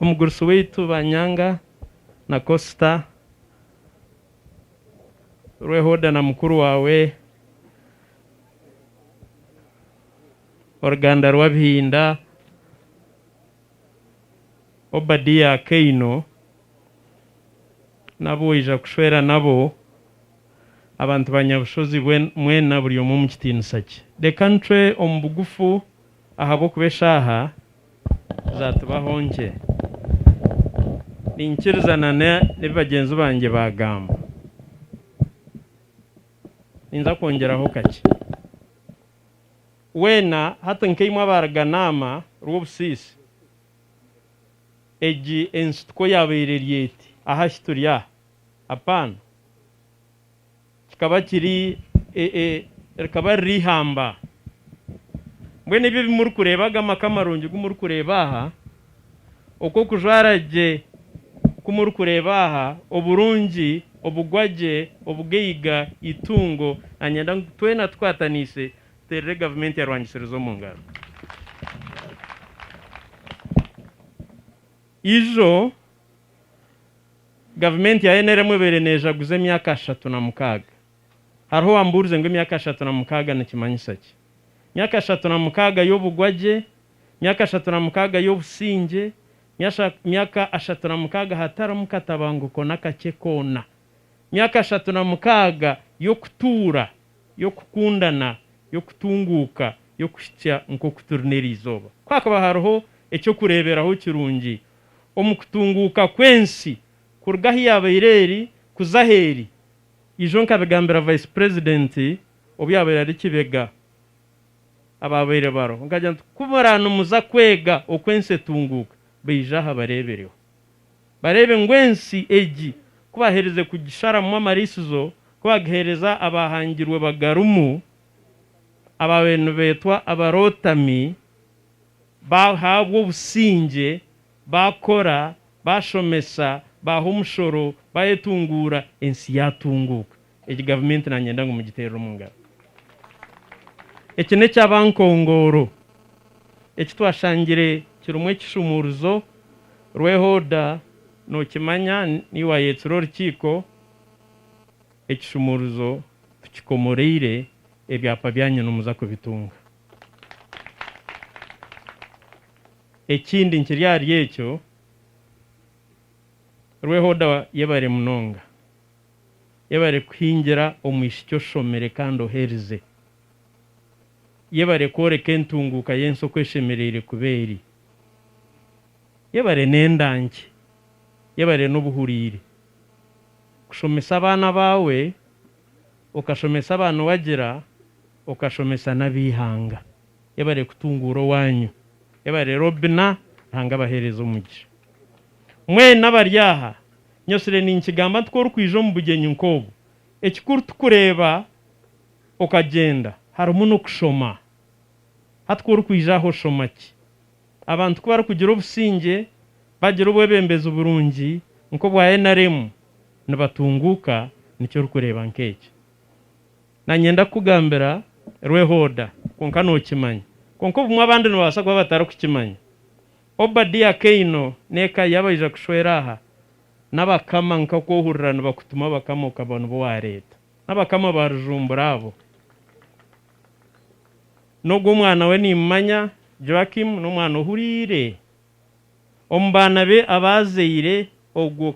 omugurusi waitu Banyanga na Kosita, Rwehoda na mukuru waawe, oruganda rw'Abihinda, Obadiya Kaino n'abu waija kushwera nabo, abantu ba Nyabushozi mwena buri omwe omu kitiinisa kye. Reka nitwe omu bugufu. Ahabw'okuba eshaaha zaatubaho nkye, niinyikiriza na n'ebi bagyenzi bangye baagamba, ninza kwongyeraho kakye. Weena, hati nk'eimwe abaaruganaama rw'obusiisi, egi ensituko yaabaire eri eti, Ahashi turi aha? Apaana. Kikaba kiri e, e, rikaba riri ihamba. Mbwenu ebi ebi murikureeba, aga maka marungi gu murikureeba aha, oku okujwara gye ku murikureeba aha, oburungi, obugwa gye, obugaiga, eitungo, na nyenda ngu twena tukwataniise tuteerere gavumenti ya Rwangitsirizi omu ngaro. Ijo. Gavumenti ya nrm ebaire neejaguza emyaka ashatu na mukaaga. Hariho owambuurize ngu emyaka ashatu na mukaaga nikimanyisa ki? Myaka ashatu na mukaaga y'obugwagye? Myaka ashatu na mukaaga y'obusingye? Myasha myaka ashatu na mukaaga hatarimu katabanguko n'akakye koona? Myaka ashatu na mukaaga y'okutuura, y'okukundana, y'okutunguuka, y'okuhitsya nk'oku turi n'eri izooba? Ku hakaba hariho eky'okureeberaho kirungi omu kutunguuka kw'ensi kuruga ahu yaabaire eri kuza ahu eri. Ijo nkabigambira Vice President obu yaabaire ari Kibega abaabaire bariho nkagira nti, ku muraba nimuza kwega oku ensi etunguuka, baije aha bareebereho. Bareebe ngu ensi egi ku baaherize kugisharamu amariisizo, ku baagiheereza abaahangirwe bagarimu abaabaire nibeetwa abarootami, baahabwa obusingye, baakora, baashomesa, baaha omushoro, baayetunguura, ensi yaatunguuka. Egi gavumenti naanyenda ngu mugiteerere omu ngaro. Eki n'ekya bankongooro eki twashangire kirimu ekishumuuruzo. Rwehoda nookimanya, niiwe waayetsire orukiiko. Ekishumuuruzo tukikomoreire, ebyapa byanyu nimuza kubitunga. Ekindi nkiri ahari ekyo, Rwehoda yebare munonga. Yebare kuhingira omwishiki oshomire kandi oherize. Yebare kworeka entunguuka y'ensi oku eshemereire kuba eri. Yebare n'endankye. Yebare n'obuhuriire. Kushomesa abaana baawe, okashomesa abaana owagira. Okashomesa n'ab'eihanga. Yebare kutunguura owaanyu. Yebare Robina. Ruhanga abaheereze omugisha. Mwena abari aha, nyotsire ninkigamba nti ku orikwija omu bugyenyi nk'obu, ekikuru ti kureeba okagyenda, harimu n'okushoma. Hati ku orikwija aha oshoma ki? Abantu ku barikugira obusingye, bagira obwebembezi burungi nk'obwa NRM, nibatunguuka. Niki orikureeba nk'ekyo? Nanyenda kukugambira Rwehooda, kwonka nookimanya. Kwonka obumwe abandi nibabaasa kuba batarikukimanya. Obadia Kaino n'eka ye abaija kushwera aha, n'abakama nkaku ohurira nibakutuma abakama okaba nibo waareeta. N'abakama ba Rujumbura abo. N'ogu omwana we nimmanya, Joachim, n'omwana ohuriire omu baana be abaazaire ogwo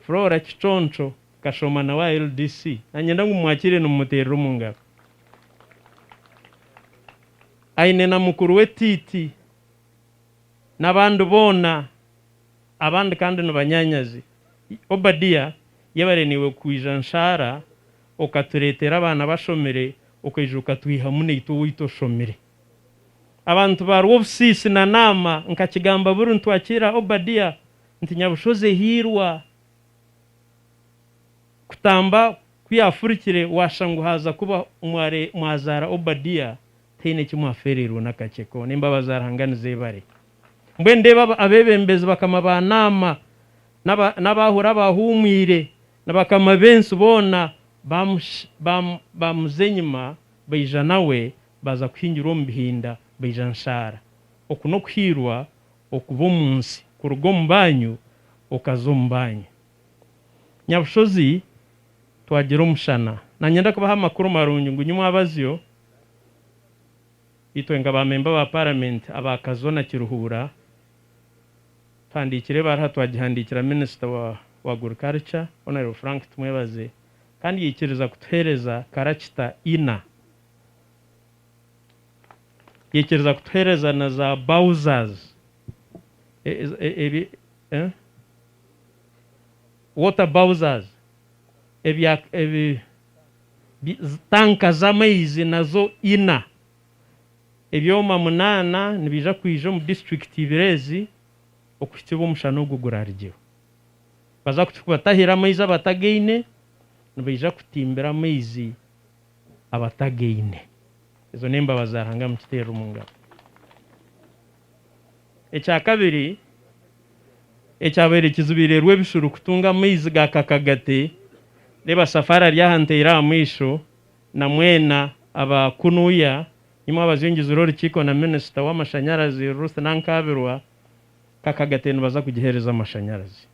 Flora Kiconco Kashoma na wa LDC nanyenda ngu mumwakiire nimumuteerera omu ngaro. Aine na mukuru we Tiiti n'abandi boona abandi kandi nibanyaanyazi. Obadia yebare naiwe kwija Nshaara okatureetera abaana abashomire okaija okatwihamu naitwe owaitu oshomire. Abantu ba Rwobusiisi na Naama nkakigamba buri ntwakiira Obadia Nti Nyabushozi ehiirwa kutamba ku yaafurikire waashusha ngu haaza kuba omware mwazaara Obadia taine ki mwafeereirwe n'akakye koona. Embabazi za Ruhanga nizeebare. Mbwenu ndeeba abeebembezi bakama ba Naama n'abaahura abaahuumwire na bakama b'ensi boona baamuza enyima baija nawe baaza kuhingirwa omu bihinda baija nshaara. Oku n'okuhiirwa Okuba omu nsi, kuruga omu banyu okaza omu banyu. Nyabushozi twagira omushana. Nanyenda kubaha amakuru marungi ngu nyimwe abazyo, itwe nka ba memba ba paramenti aba Kazo na Kiruhura tuhandikire ebaruha twagihandikira minisita wa wa agriculture Honorable Frank Tumwebaze kandi yaikiriza kutuhereza karakita ina. Yaikiriza kutuheereza na za Bowser's water Bowser's, tanka z'amaizi nazo ina, ebyoma munaana nibiija kwija omu disiturikiti ibiri ezi okuhitsya obu omushana ogwo guraarugire. Baza kubatahira amaizi abatagaine, nibaija kutimbira amaizi. abatagaine. Ezo n'embabazi za Ruhanga mukiteerere omu ngaro. Ekya kabiri ekyabaire kizibiirerwe ebishuuru kutunga amaizi ga kakagate, reeba Safari ari aha nteire aha maisho na mwena aba kunuya, nimwo abazingizire orukiiko na Minisita w'amashanyarazi Ruth Nankabirwa, kakagate nibaza kugiheereza amashanyarazi.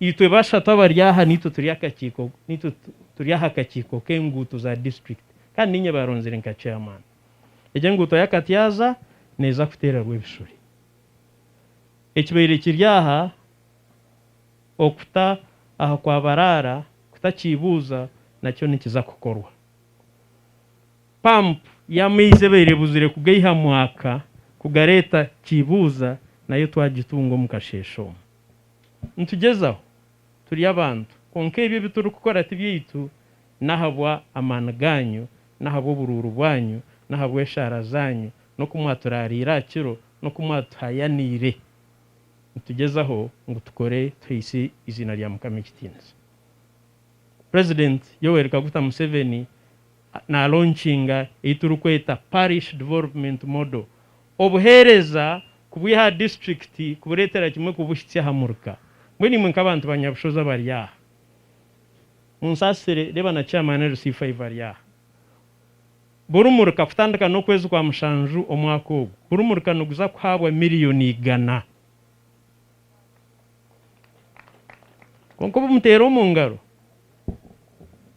Itwe bashatu abari aha n'itwe turi akakiiko n'itwe turi aha kakiiko k'enguuto za disiturikiti kandi niinye baaronzire nka chairman. Egi enguuto ya Katyaaza neeza kuteera Rwebishure. Ekibaire kiri aha okuta aha kwa Baraara kuta Kiibuuza nakyo nikiza kukorwa. Pampu y'amaizi ebaire ebuzire kugaiha Mwaka kugareeta Kiibuuza nayo twagitunga omu kasheeshe omu. Nitugyezaho, turi abantu, kwonka ebi ebi turi kukora ti byaitu, ni ahabwa amaani gaanyu, ni ahabwa oburuuru bwanyu, ni ahabwa eshaara zaanyu, n'oku mwaturaariire aha kiro, n'oku mwatuhayaniire. Nitugyezaho ngu tukore tuhaise eiziina rya Mukama ekitiinisa. President Yoweri Kaguta Museveni na launchiinga ei turi kweta Parish Development Model Obuheereza kubwiha aha disiturikiti kubureetera kimwe kubuhitsya aha muruka. Mbwenu imwe nk'abantu ba Nyabushozi abari aha, munsaasire, reeba na Chairman LC Five ari aha. Buri muruka kutandika n'okwezi kwa mushanju omwaka ogu, buri muruka niguza kuhaabwa miriyoni igana. Kwonka obu muteera omu ngaro,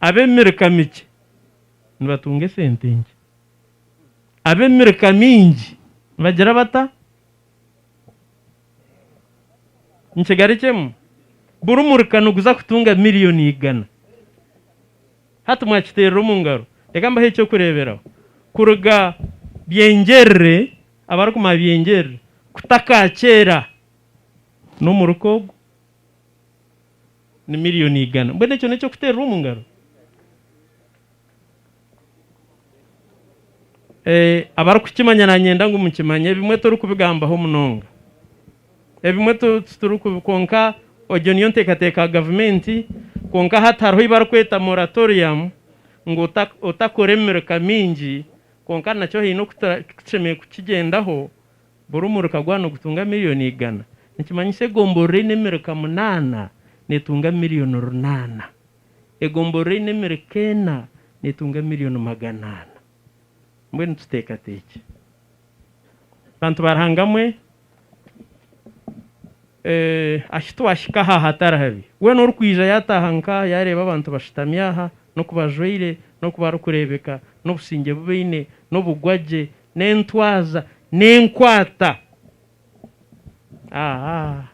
ab'emiruka mikye nibatunga esente nkye. ab'emirika mingi nibagira bata? Nikigaruka emwe? Buri murika niguza kutunga miriyoni igana. Hati mwakiteerera omu ngaro. Reka mbahe eky'okureeberaho. Kuruga Byengyerere, abarikumanya Byengyerere, kuta Kaakyera, n'omurika ogu ni miriyoni igana. Mbwenu ekyo n'eky'okuteerera omu ngaro? Abarikukimanya nanyenda ngu mukimanye ebimwe torikubigambaho munonga ebimwe kwonka egyo niyo nteekateeka ya gavumenti kwonka hati hariho ei barikweta moratoriamu ngu otakora emirika mingi kwonka nakyo haine oku tushemereire kukigyendaho buri omurika gwaba nigutunga mirioni igana nikimanyisa egomborora eine emirika munaana neetunga mirioni runaana. Egomborora eine emireka ena netunga emiliyoni magana ana. Mbwenu tuteekateekye. Bantu ba Ruhanga mwe, ahi twahika aha hatari habi. Weena orikwija yataaha nk'aha yareeba abantu bashutami aha, n'oku bajwaire, n'oku barikureebeka, n'obusingye bu baine, n'obugwagye, n'entwaza, n'enkwata. Aa!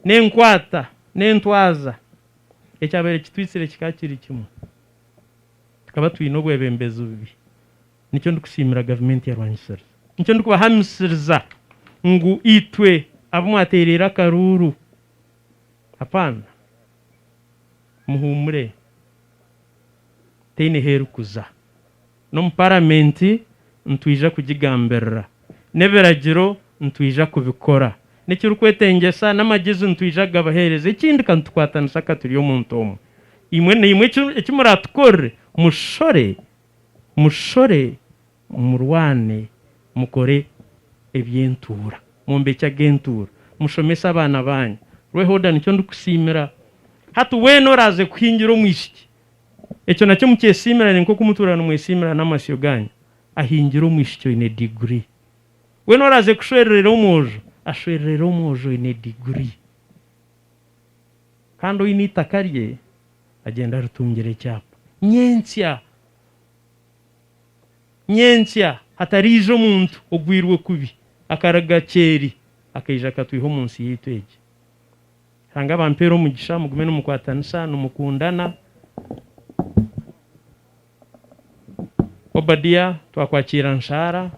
n'enkwata n'entwaza ekyabaire kitwitsire kikaba kiri kimwe. Tukaba twine obwebembezi bubi. Nikyo ndikusiimira gavumenti ya Rwanyisiriza. Nikyo ndikubahamisiriza ngu itwe abu mwateereire akaruuru, apaana, muhuumure, teine h'erikuza. N'omu Paramenti nitwija kugigambirira. N'ebiragiro nitwija kubikora. N'ekirikwetengyesa n'amagezi nitwija kugabaheereza. Ekindi ka nitukwatanisa ka turi omuntu omwe. Imwe na imwe eki muraatukorere, mushore, mushore, murwane, mukore eby'entuura, mwombekye ag'entuura, mushomese abaana baanyu. Rweho, Oda, nikyo ndikusiimira. Hati weena oraaze kuhingira omwishiki. Ekyo nakyo mukyesiimirane nk'oku mutwire nimwesiimirana n'amasyo gaanyu. Ahingire omwishiki oine diguri. Weena oraaze kushwererera omwojo, ashwererere omwojo oine diguri. Kandi oine eitaka rye, agyende aritungire ekyapa. Nyentsya, nyentsya hatariija omuntu ogwirwe kubi, akaruga kyeeri akaija akatwiha omu nsi yaitu egi. Ruhanga abampere omugisha mugume nimukwatanisa nimukundana. Obadia twakwakiira nshaara,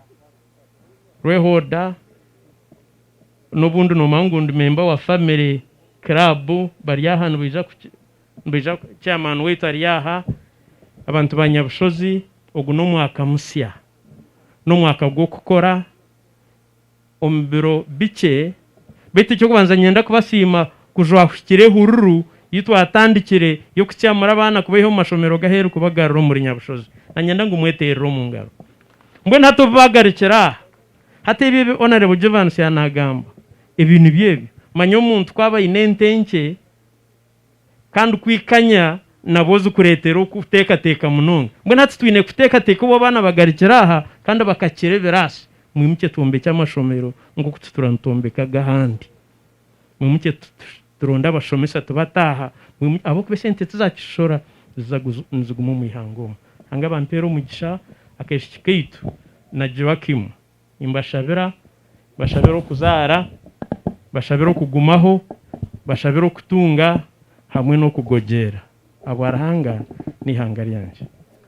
Rwehoda n'obundi noomanya ngu ndi memba wa family club bari aha nibaija nibaija chairman waitu ari aha, abantu ba Nyabushozi ogu n'omwaka musya n'omwaka gw'okukora. omu biro bikye beitu eky'okubanza niinyenda kubasiima kujwahikire ehururu ei twatandikire y'okukyamura abaana kubaiha omu mashomero g'aheeru kubagarura omuri Nyabushozi. Niinyenda ngu mweteerere omu ngaro. Mbwenu hati obu baagarukire aha, hati ebyo ebi Honourable Jovansi yaaba naagamba, ebyo nibyo ebyo. Manya omuntu ku aba aine ente nkye, Kandi ku ikanya nabwo zikureetera okuteekateeka munonga. Mbwenu hati twine kuteekateeka obu abaana bagarukire aha kandi bakakira ebiraasi, mwimukye twombekye amashomero nk'oku tutura nitwombeka aga ahandi. Mwimukye turonde abashomesa tubate aha ahabw'okuba esente tizakitushora, ziza niziguma omu ihanga omu. Ruhanga abampeere omugisha. Akaishiki kaitu na Joakim Nimbashabira, mbashabira okuzaara, mbashabira okugumaho, mbashabira okutunga hamwe n'okugogyera ahabwa Ruhanga n'eihanga ryangye.